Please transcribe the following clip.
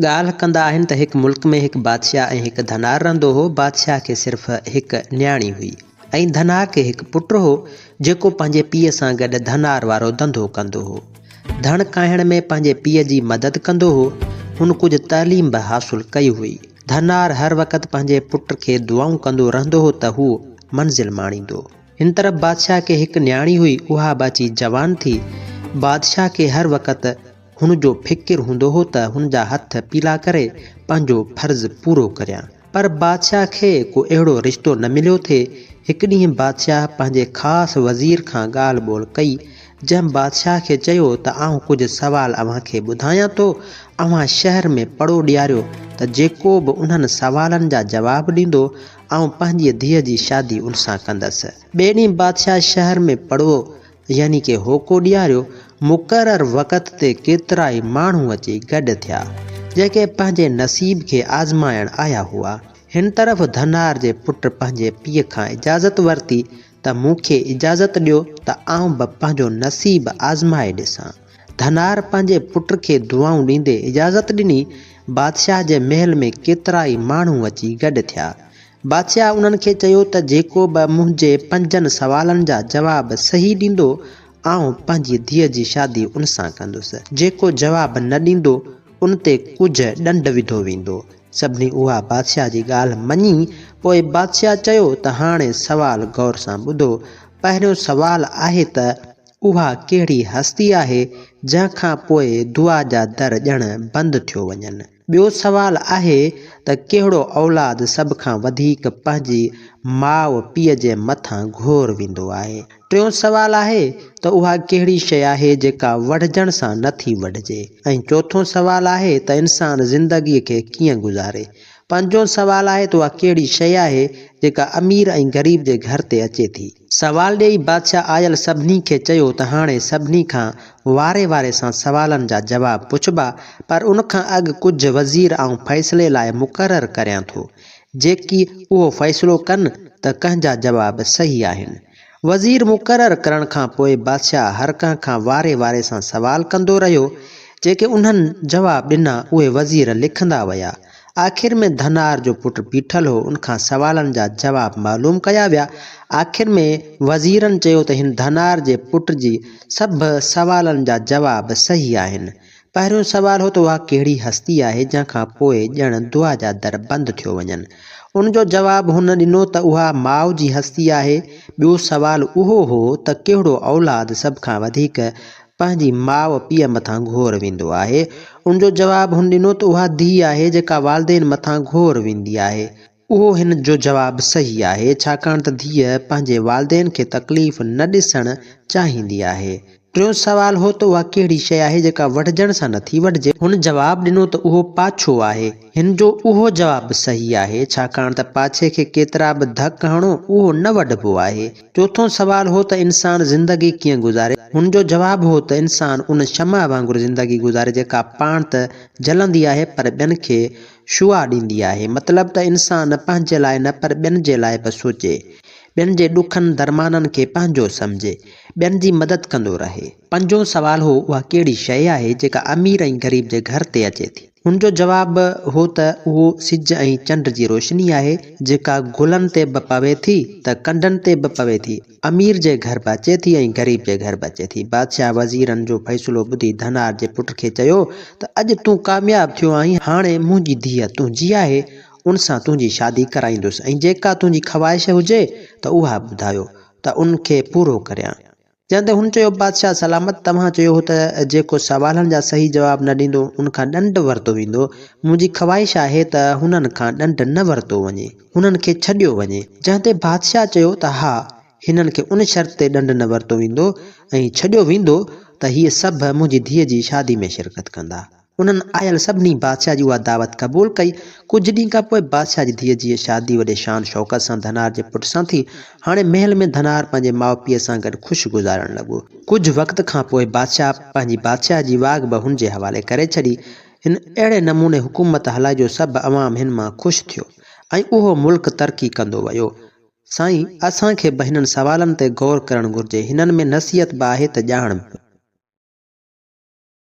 ڳالهه ڪندا آهن ته هڪ ملڪ ۾ هڪ بادشاهه ۽ هڪ ڌنار رهندو هو. بادشاهه کي صرف هڪ نياڻي هئي ۽ ڌنار کي هڪ پٽ هو، جيڪو پنهنجي پيء سان گڏ ڌنار وارو ڌنڌو ڪندو هو. ڌڻ ڪاهڻ ۾ پنهنجي پيء جي مدد ڪندو هو. هن ڪجهه تعليم به حاصل ڪئي هئي. ڌنار هر وقت پنهنجي پٽ کي دعائون ڪندو رهندو هو ته هو منزل ماڻيندو. هن طرف بادشاهه کي هڪ نياڻي هئي، اها به اچي جوان ٿي. بادشاهه کي هر وقت. هن جو فڪر هوندو هو ته هن جا هٿ پيلا ڪري پنهنجو فرض پورو ڪريان. پر بادشاهه کي ڪو اهڙو رشتو نه مليو ٿي. هڪ ڏينهن بادشاهه پنهنجي خاص وزير کان ڳالهه ٻولهه ڪئي، جنهن بادشاهه کي چيو ته آئون ڪجهه سوال اوهان کي ٻڌايان ٿو، اوهان شهر ۾ پڙو ڏياريو ته جيڪو به انهن سوالن جا جواب ڏيندو، آئون پنهنجيء ڌيء جي شادي ان سان ڪندس. ٻئي ڏينهن بادشاهه شهر ۾ پڙو يعني ڪي هوڪو ڏياريو، مقرر وقت تي ڪيترائي ماڻهو اچي گڏ ٿيا، جيڪي پنهنجي نصيب کي آزمائڻ آيا هئا. هن طرف ڌنار جي پٽ پنهنجي پيء کان اجازت ورتي ته مون کي اجازت ڏيو ته آئون به پنهنجو نصيب آزمائي ڏسان. ڌنار پنهنجي پٽ کي دعائون ڏيندي اجازت ڏني. بادشاهه جي محل ۾ ڪيترائي ماڻهو اچي گڏ ٿيا، بادشاهه انهن کي چيو ته جيڪو به منهنجي پنجن سوالن جا جواب صحيح ڏيندو، آئون پنهنجي ڌيء جي شادي ان سان ڪندس. جيڪو جواب نه ڏيندو، ان تي ڪجهه ڏنڊ وڌو ويندو. سڀني اها بادشاهه جي ڳالهه مڃي. پوء بادشاهه چيو ته هاڻي سوال غور سان ٻڌو. پهريون سوال آهي ته اها ڪهڙي هستي آهي، جنهن کان پوء دعا جا در ڄڻ بند ٿيو وڃن. ٻيو سوال آهي ته ڪهڙو اولاد سڀ کان وڌيڪ پنهنجي ماء پيء جي مٿان گهور ويندو آهي. ٽيون سوال آهي ته اها ڪهڙي شيء آهي جيڪا وڙهجڻ سان نه ٿي وڙهجي ۽ چوٿون سوال آهي ته انسان زندگيء کي ڪيئن گذاري. پنجون سوال آهي ته اها ڪهڙي شيء آهي جيڪا امير ۽ غريب جي گهر تي اچي ٿي. سوال ڏيئي بادشاهه آيل سڀني کي چيو ته هاڻي سڀني کان واري واري سان سوالن جا جواب پڇبا پر ان کان اڳ ڪجهه وزير آئون فيصلي لاء مقرر ڪريان ٿو جيڪي اهو فيصلو ڪن ته ڪنهن جا جواب صحيح آهن. وزير مقرر ڪرڻ کان پوء بادشاهه هر ڪنهن کان واري واري سان سوال ڪندو رهيو جيڪي انهن جواب ڏنا اهي وزير لکندا ويا. آخر ۾ ڌنار جو پٽ بيٺل هو، ان کان سوالن جا جواب معلوم ڪيا ويا. آخر ۾ وزيرن چيو ته هن ڌنار جي پٽ جي سڀ سوالن جا جواب صحيح آهن. پهريون سوال هو ته اها ڪهڙي هستي آهي جنهن کان پوء ڄڻ دعا جا در بند ٿيو وڃن. ان جو جواب هن ڏنو ته اها ماء جي هستي آهي. ٻيو سوال اهو هو ته ڪهڙو اولاد سڀ کان وڌيڪ پنهنجي ماء پيء مٿان گهور ويندو آهي. ان جو جواب هن ڏنو ته اها ڌيء آهي جيڪا والدين مٿان گهور ويندي آهي. اهو هن جو جواب صحيح آهي ڇاڪاڻ ته ڌيء پنهنجي والدين کي تڪليف نه ڏسڻ چاهيندي آهي. ٽيون سوال هو ته اها ڪهڙي شيء آهي جيڪا وڍجڻ سان نه ٿي وڍجي. هن جواب ڏنو ته اهو پاڇو آهي. هن جو اهو جواب به صحيح آهي ڇاڪاڻ ته پاڇي کي ڪيترا به ڌڪ هڻو اهو نه وڍبو آهي. چوٿون سوال هو ته انسان زندگي ڪيئن گذاري؟ هن جو جواب هو ته انسان ان شمع وانگر زندگي گذاري جيڪا پاڻ ته جلندي آهي پر ٻين کي شعاع ڏيندي آهي. مطلب ته انسان پنهنجي لاء نه پر ٻين جي لاء به سوچي. ٻين جي ڏکن درمانن کي پنهنجو سمجهي. ٻين جي مدد ڪندو رهي. پنجون سوال هو اها ڪهڙي شيء آهي جيڪا امير ۽ غريب جي گهر تي اچي ٿي؟ هن جو جواب به هو ته اهو سج ۽ چنڊ جي روشني آهي، جيڪا گلن تي به پوي ٿي ته ڪنڊن تي به پوي ٿي. امير جي گهر به اچي ٿي ۽ غريب جي گهر به اچي ٿي. بادشاهه وزيرن جو فيصلو ٻڌي ڌنار جي پٽ کي چيو ته اڄ تون ڪامياب ٿيو آهين، هاڻي منهنجي ڌيء تنهنجي آهي، ان سان تنهنجي شادي ڪرائيندس ۽ جيڪا تنهنجي خواهش هجي ته اها ٻڌايو ته ان کي پورو ڪريان. جنهن تي هن چيو، بادشاهه سلامت، توهان چيو هو ته جيڪو سوالن جا صحيح جواب نه ڏيندو، ان کان ڏنڊ ورتو ويندو. منهنجي خواهش آهي ته هنن کان ڏنڊ نه ورتو وڃي، هنن کي ڇڏيو وڃي. جنهن تي بادشاهه چيو ته ها، هنن کي ان شرط تي ڏنڊ نه ورتو ويندو ۽ ڇڏيو ويندو ته هي سڀ منهنجي ڌيء جي شادي ۾ شرڪت ڪندا. انهن آيل سڀني بادشاهه جي اها دعوت قبول ڪئي. ڪجهه ڏينهن کان پوء بادشاهه جي ڌيء جيئي شادي وڏي شان شوڪت سان ڌنار جي پٽ سان ٿي. هاڻي محل ۾ ڌنار پنهنجي ماء پيء سان گڏ خوش گذارڻ لڳو. ڪجهه وقت کان پوء بادشاهه پنهنجي بادشاهي جي واڳ به هن جي حوالي ڪري ڇڏي. هن اهڙي نموني حڪومت هلائي جو سڀ عوام هن مان خوش ٿيو ۽ اهو ملڪ ترقي ڪندو ويو. سائين اسان کي به هنن سوالن تي غور ڪرڻ گهرجي. هنن ۾ نصيحت به آهي ته ڄاڻ به.